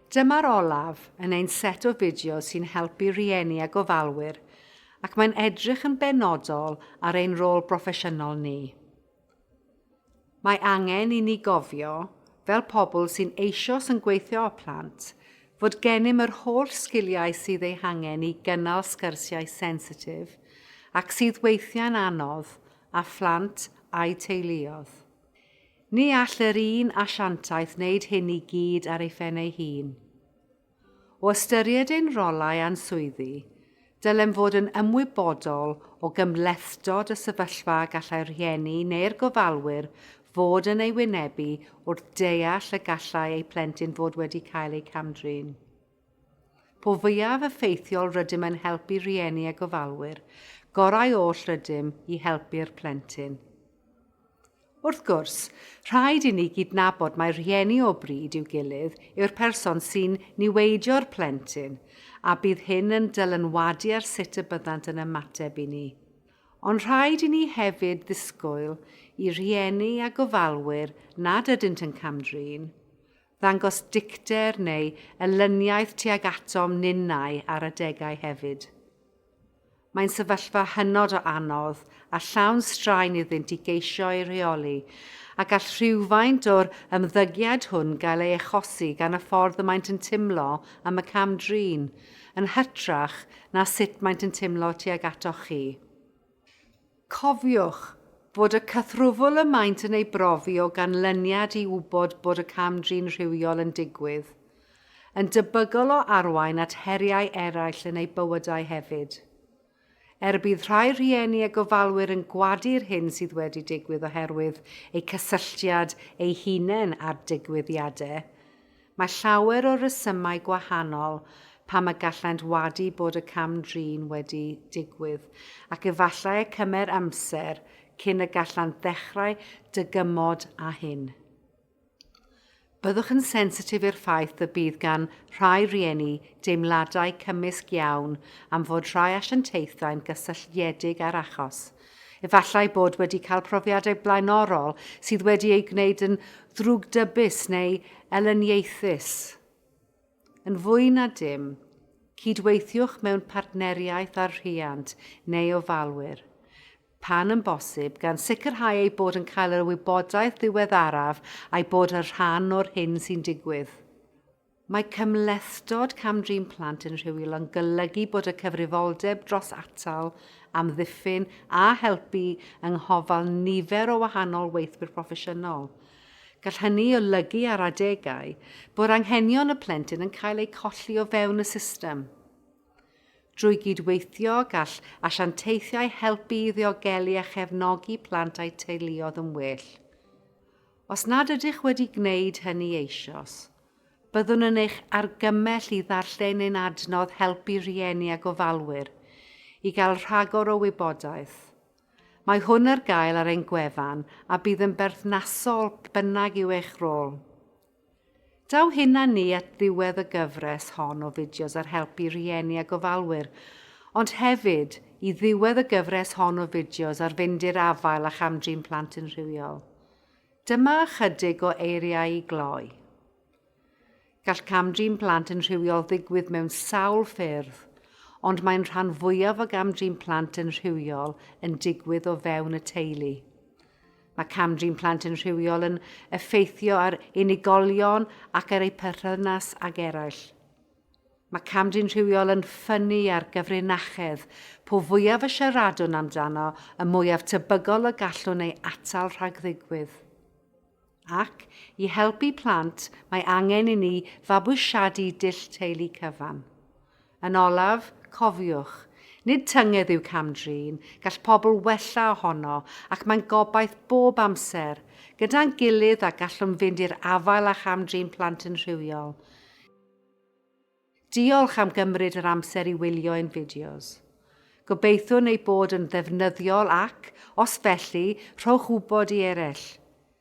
Dyma'r olaf yn ein set o fideos sy'n helpu rhieni a gofalwyr ac mae'n edrych yn benodol ar ein rôl broffesiynol ni. Mae angen i ni gofio, fel pobl sy'n eisoes yn gweithio â phlant, fod gennym yr holl sgiliau sydd eu hangen i gynnal sgyrsiau sensitif ac sydd weithiau'n anodd a phlant a'u teuluoedd. Ni all yr un asiantaeth wneud hyn i gyd ar ei phen ei hun. O ystyried ein rolau a'n swyddi, dylem fod yn ymwybodol o gymhlethdod y sefyllfa a gallai'r rhieni neu'r gofalwyr fod yn ei wynebu wrth deall y gallai eu plentyn fod wedi cael eu cam-drin. Po fwyaf effeithiol rydym yn helpu rhieni a gofalwyr, gorau oll rydym i helpu'r plentyn. Wrth gwrs, rhaid i ni gydnabod mai rhieni o bryd i'w gilydd yw'r person sy'n niweidio'r plentyn, a bydd hyn yn dylanwadu ar sut y byddant yn ymateb i ni. Ond rhaid i ni hefyd ddisgwyl i rhieni a gofalwyr nad ydynt yn cam-drin, ddangos dicter neu elyniaeth tuag atom ninnau ar adegau hefyd. Mae'n sefyllfa hynod o anodd a llawn straen iddynt i geisio ei rheoli, a gall rhywfaint o'r ymddygiad hwn gael ei achosi gan y ffordd y maent yn timlo am y cam-drin, yn hytrach na sut maent yn timlo tuag atoch chi. Cofiwch fod y cythrwfl y maent yn ei brofi o ganlyniad i wybod bod y cam-drin rhywiol yn digwydd, yn debygol o arwain at heriau eraill yn eu bywydau hefyd. Er bydd rhai rhieni a gofalwyr yn gwadu'r hyn sydd wedi digwydd oherwydd eu cysylltiad eu hunain â'r digwyddiadau, Mae llawer o resymau gwahanol pam y gallent wadu bod y cam-drin wedi digwydd, ac efallai y cymer amser cyn y gallant ddechrau dygymod â hyn. Byddwch yn sensitif i'r ffaith y bydd gan rhai rhieni deimladau cymysg iawn am fod rhai asiantaethau'n gysylltiedig â'r achos, Efallai bod wedi cael profiadau blaenorol sydd wedi ei gwneud yn ddrwgdybus neu elyniaethus. Yn fwy na dim, cydweithiwch mewn partneriaeth â'r rhiant neu ofalwyr, pan yn bosib, gan sicrhau eu bod yn cael yr wybodaeth ddiweddaraf a'i bod yn rhan o'r hyn sy'n digwydd. Mae cymhlethdod cam-drin plant yn rhywiol yn golygu bod y cyfrifoldeb dros atal, amddiffyn a helpu yng nghofal nifer o wahanol weithwyr proffesiynol. Gall hynny olygu ar adegau bod anghenion y plentyn yn cael eu colli o fewn y system. Drwy gydweithio, gall asiantaethiau helpu i ddiogelu a chefnogi plant a'u teuluoedd yn well. Os nad ydych wedi gwneud hynny eisoes, byddwn yn eich argymell i ddarllen ein adnodd Helpu Rhieni a Gofalwyr i gael rhagor o wybodaeth. Mae hwn ar gael ar ein gwefan a bydd yn berthnasol beth bynnag yw eich rôl. Daw hyn â ni at ddiwedd y gyfres hon o fideos ar helpu rhieni a gofalwyr, ond hefyd i ddiwedd y gyfres hon o fideos ar fynd i'r afael â cham-drin plant yn rhywiol. Dyma ychydig o eiriau i gloi. Gall cam-drin plant yn rhywiol ddigwydd mewn sawl ffyrdd, ond mae'n rhan fwyaf o gam-drin plant yn rhywiol yn digwydd o fewn y teulu. Mae cam-drin plant yn rhywiol yn effeithio ar unigolion ac ar eu perthynas ag eraill. Mae cam-drin rhywiol yn ffynnu ar gyfrinachedd. Po fwyaf y siaradwn amdano, y mwyaf tebygol y gallwn ei atal rhag ddigwydd. Ac, i helpu plant, mae angen i ni fabwysiadu dull teulu cyfan. Yn olaf, cofiwch, nid tynged yw cam-drin, gall pobl wella ohono ac mae'n gobaith bob amser, gyda'n gilydd a gallwn fynd i'r afael â cham-drin plant yn rhywiol. Diolch am gymryd yr amser i wylio ein fideos. Gobeithiwn eu bod yn ddefnyddiol ac, os felly, rhowch wybod i eraill.